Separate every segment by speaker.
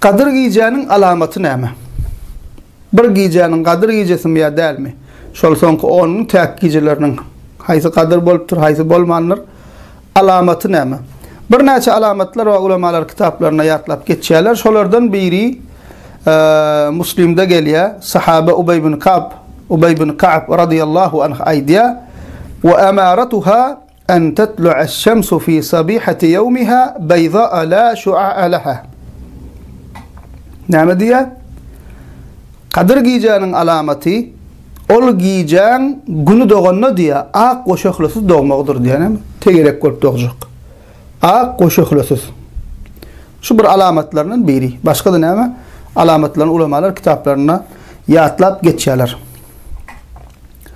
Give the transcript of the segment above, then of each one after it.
Speaker 1: Gadyr gijäniň alamaty näme? Bir gijäniň gadyr gijesimi ýa dälmi? Şol soňky on gün täk gijeleriniň haýsy gadyr bolupdyr, haýsy bolmandyr? Alamaty näme? Birnäçe alamatlar bar, ulamalar kitaplarynda ýatlap geçýärler. Şolardan biri Muslimde gelýär. Sahaba Ubeý ibn Kab, Ubeý ibn Ka'b radiyallahu anh aýdýar: "Wa amaratuha An tatlu'aş-şamsu fi sabihati ýawmiha baýdaa la şu'a'a laha. Näme diýýär? Gadyr gijäniň alamaty, ol gijäň güni doganda diýýär, ak we şöhlesiz dogmagydyr diýýär. Näme? Tegelek bolup dogjak. Ak we şöhlesiz. Şu bir alamatlaryndan biri. Başga-da näme? Alamatlaryny ulamalar kitaplarynda ýatlap geçýärler.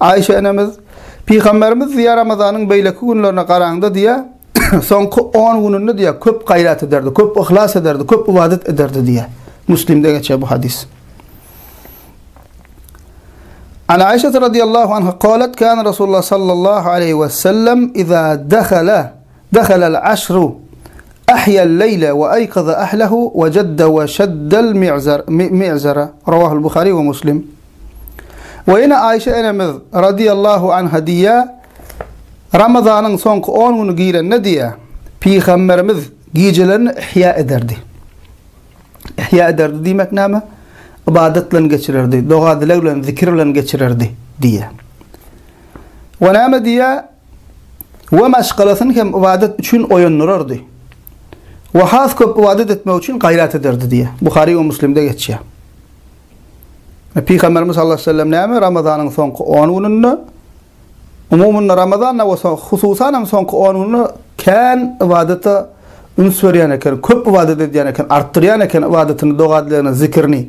Speaker 1: Aişe enemiz, Pygamberimiz diýýär Ramazanyň beýleki günlerine garaňda diýýär, soňky on gününde diýýär köp gaýrat ederdi, köp yhlas ederdi, köp ybadat ederdi diýýär. Müslimde geçýär bu hadys. An Aişe radiyallahu anha qalet kan Rasulullah sallallahu aleyhi ve sellem iza dehala Dehalal aşru ahyal leýle we aýkaza ahlahu we jadda we şaddal mi'zar mi'zara Rawahul Buhari we Muslim. We ýene Aýşe enemiz radiyallahu anha diýýär, Ramazanyň soňky on güni girende diýýär, Pygamberimiz gijelerini ihýa ederdi. Ihýa ederdi diýmek näme? Ybadat bilen geçirerdi, doga-dileg bilen, zikir bilen geçirerdi diýýär. We näme diýýär? we maşgalasyny hem ybadat üçin oýandyrardy we has köp ybadat etmek üçin gaýrat ederdi diýýär. Buhary we Müslimde geçýär. E, Pygamberimiz sallallahu aleyhi ve sellem näme? Ramazanyň soňky 10 gününde umumynda Ramazanda we hususan hem soňky 10 günde kän ibadata üns berýän eken, köp ibadat edýän eken, artdyrýan eken ibadatyny, dogadlaryny, zikirini.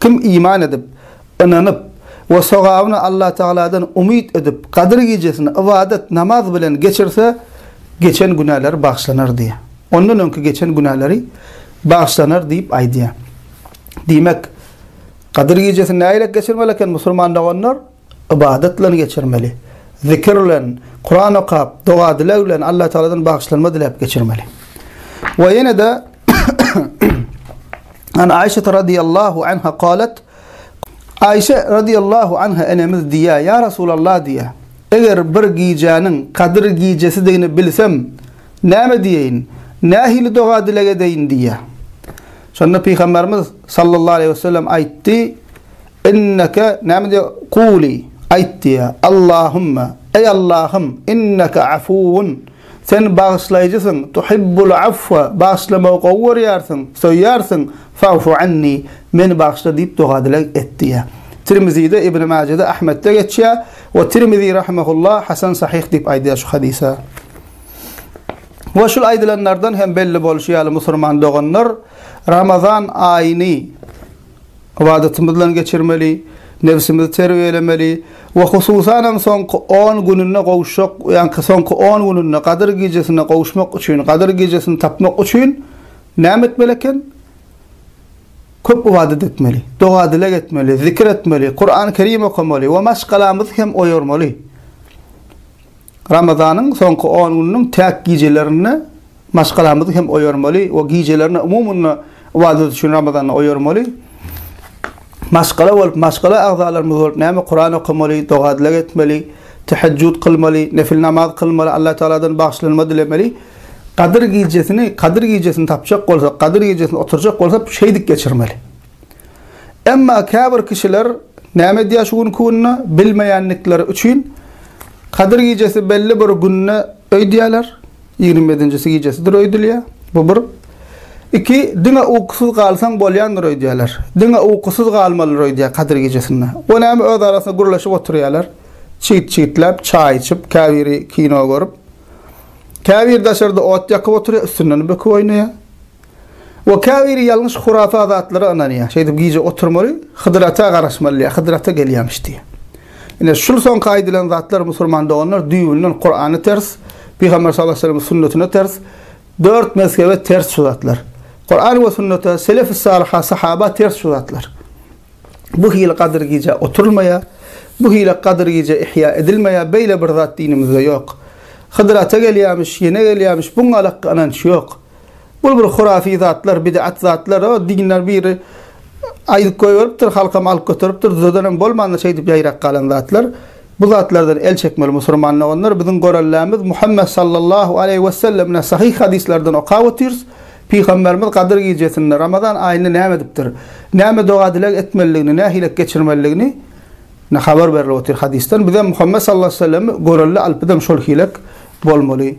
Speaker 1: Kim iman edip, ynanyp we sogabyny Allatagaladan umyt edip, Gadyr gijesini ybadat, namaz bilen geçirse, geçen günäleri bagyşlanar diýýär. Ondan öňki geçen günäleri bagyşlanar diýip aýdýar. Diýmek, Gadyr gijesini nähili geçirmeli eken musulman doganlar? Ybadat bilen geçirmeli. Zikir bilen, Kuran okap, doga-dileg bilen Allatagaladan bagyşlanma diläp geçirmeli. We ýene-de An Aişe radiyallahu anha qalet Aişe radiyallahu anha enemiz diýýär, ýa Resulallah diýýär. Eger bir gijäniň Kadyr gijesidigini bilsem, näme diýeýin? Nähili doga-dileg edeýin diýýär. Şonda Pygamberimiz sallallahu aleýhi wesellem aýtdy, Inneke, näme diýýär? Kuly, aýt diýýär. Allahumma, eý Allahym, inneke afuwun, sen bagyşlaýjysyň, tuhibbul afwa, bagyşlamagy gowy görýärsiň, söýýärsiň, fa'fu anni, meni bagyşla diýip doga-dileg et diýýär. Tirmizide, Ibni Majede, Ahmetde geçýär we Tirmizi rahimehullah hasan sahyh diýip aýdýar şu hadysa. We şul aýdylanlardan hem belli bolşy ýaly musurman doganlar Ramazan aýyny, Ybadatymyzdan geçirmeli, nebsimizi terbiýelemeli we hususanam soňky on gününde gowuşjak, ýa-ki soňky on gününde Gadyr gijesine gowuşmak üçin, Gadyr gijesini tapmak üçin näme etmeli eken? Köp ybadat etmeli, doga-dileg etmeli, zikir etmeli, Kurany Kerim okamaly we maşgalamyzy hem oýarmaly. Ramazanyň soňky on gününiň täk gijelerinde Maşgalamyzy hem oýarmaly we gijelerine umumyny ybadat üçin Ramazanda oýarmaly. Maşgala bolup, maşgala agzalarymyz bolup näme Kuran okamaly, doga-dileg etmeli, tehejjüt kylmaly, nefil namaz kylmaly, Alla Tagaladan bagyşlanma dilemeli. Gadyr gijesini, Gadyr gijesini tapjak bolsak, Gadyr gijesini oturjak bolsak şeýdip geçirmeli. Emma käbir kişiler näme edýär şu günki günde bilmeýändikleri üçin Gadyr gijesi belli bir günde öýdýärler. Ýigrimbedinjisi gijesidir öýdülýär. Bu bir. Iki, diňe ukusyz galsaň bolýandyr öýdýärler. Diňe ukusyz galmalydyr öýdýär Kadyr gijesinde. O näme öz arasynda gürleşip oturýarlar. Çyt-çytläp, çaý içip, käbiri kino görüp. Käbiri daşarda ot ýakyp oturýar, üstünden böküp oýnaýar. We käbiri ýalňyş hurafa zatlara ynanýar. Şeýdip gije oturmaly, Hydyr ata garaşmaly diýýär. Hydyr ata gelýämiş diýýär. Ine, şul soňky aýdylan zatlar musulman doganlar düýbünden Kurana ters, Pygamber sallallahu aleyhi ve sellemiň sünnetine ters, dört mezhebe ters şu zatlar. Kuran we sünnete, selef-i salyha, sahaba ters şu zatlar. Bu hili gadyr gije oturylmaýar. Bu hili gadyr gije ihýa edilmeýär. Beýle bir zat dinimizde ýok. Hydyr ata gelýämiş, ýene gelýämiş, buň alakka ynanç ýok. Bul bir hurafi zatlar bidat zatlar o dinler biri aýdyp goýberipdir halkam alyp göteripdir düzedenem bolmandyr şeýdip ýaýrap galan zatlar bu zatlardan el çekmeli musurman doganlar biziň gorellemiz Muhammet sallallahu aleýhi wessellemine sahyh hadyslardan okap otyrs pygamberimiz gadyr gijesinde ramazan aýynda näme edipdir näme doga dileg etmelidigini nähilek geçirmelidigini ne habar berilip otyr hadysdan bizem Muhammet sallallahu aleýhi wesellemi gorelle alyp bizem şol hilek bolmaly.